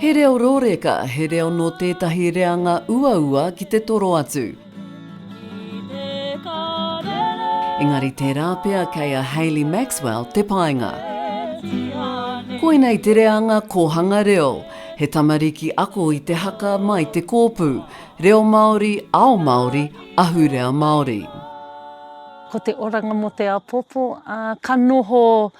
He reo rōreka, he reo nō tētahi reanga uaua ki te toro atu. Engari tērā pea kei a Hayley Maxwell te painga. Koinei te reanga kōhanga reo, he tamariki ako i te haka mai te kōpū, reo Māori, ao Māori, ahurea Māori. Ko te oranga mō te apopo, ka noho.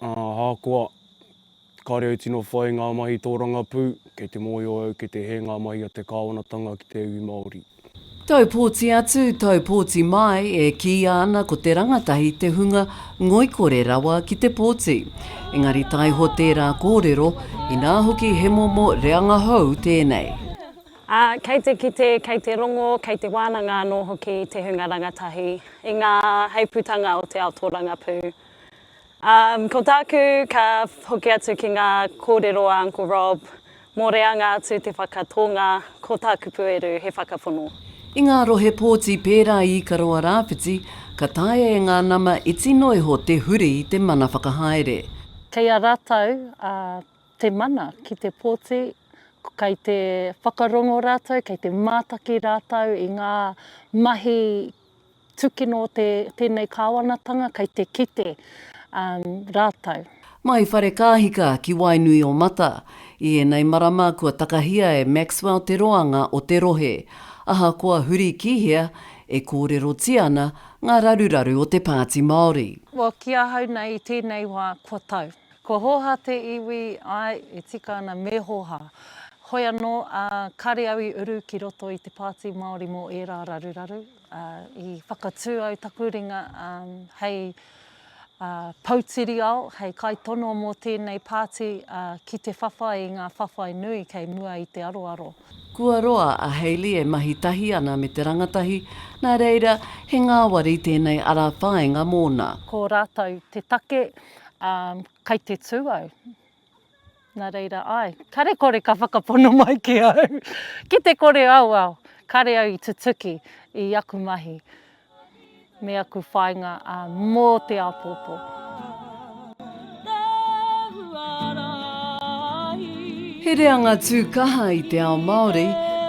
Ahakoa, kāre au tino whai ngā mahi tōrangapū, kei te mōhio au kei te hē ngā mahi a te kāwanatanga ki te iwi Māori. Taupōti atu, taupōti mai, e kīia ana ko te rangatahi te hunga ngoikore rawa ki te pōti. Engari taiho tērā kōrero, inā hoki he momo reanga hou tēnei. Ā, kei te kite, kei te rongo, kei te wānanga anō hoki te hunga rangatahi i ngā heipūtanga o te ao tōrangapū. Um, ko tāku, ka hoki atu ki ngā kōrero a Uncle Rob, mō reanga atu te whakatōnga, ko tā kupu eru he whakapono. I ngā rohe pōti pērā i Ikaroa Rāwhiti, ka taea e ngā nama e tino iho te huri te mana whakahaere. Kei a rātou a te mana ki te pōti, kei te whakarongo rātou, kei te mātaki rātou i ngā mahi Tūkino te, tēnei Kāwanatanga kei te kite um, rātou. Mai Wharekāhika ki Wainui-o-Mata. I ēnei marama kua takahia e Maxwell te roanga o te rohe. Ahakoa huri ki hea, e kōrerotia ana ngā raruraru o te Pāti Māori. Well, ki ahau nei i tēnei wā, kua tau. Kua hōhā te iwi, āe, e tika ana me hōhā. Hoi anō, ā, kāre au i uru ki roto i te Pāti Māori mō ērā raruraru. I whakatū au taku ringa hei Poutiriao, hei kaitono mō tēnei pāti ki te whawhai i ngā whawhai nui kei mua i te aroaro. Kua roa a Hayley e mahi tahi ana me te rangatahi, nā reira, he ngāwari tēnei ara whāinga mōna. Ko rātou te take, kei te tū au. Nā reira, āe, kare kore ka whakapono mai ki au. Ki te kore au, ao, kare au i tutuki i aku mahi me aku whāinga mō te āpōpō. He reanga tū kaha i te ao Māori,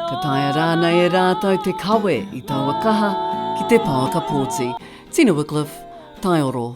ka taea rānei e rātou te kawe i taua kaha ki te pouaka pōti. Tina Wycliffe, Taioro.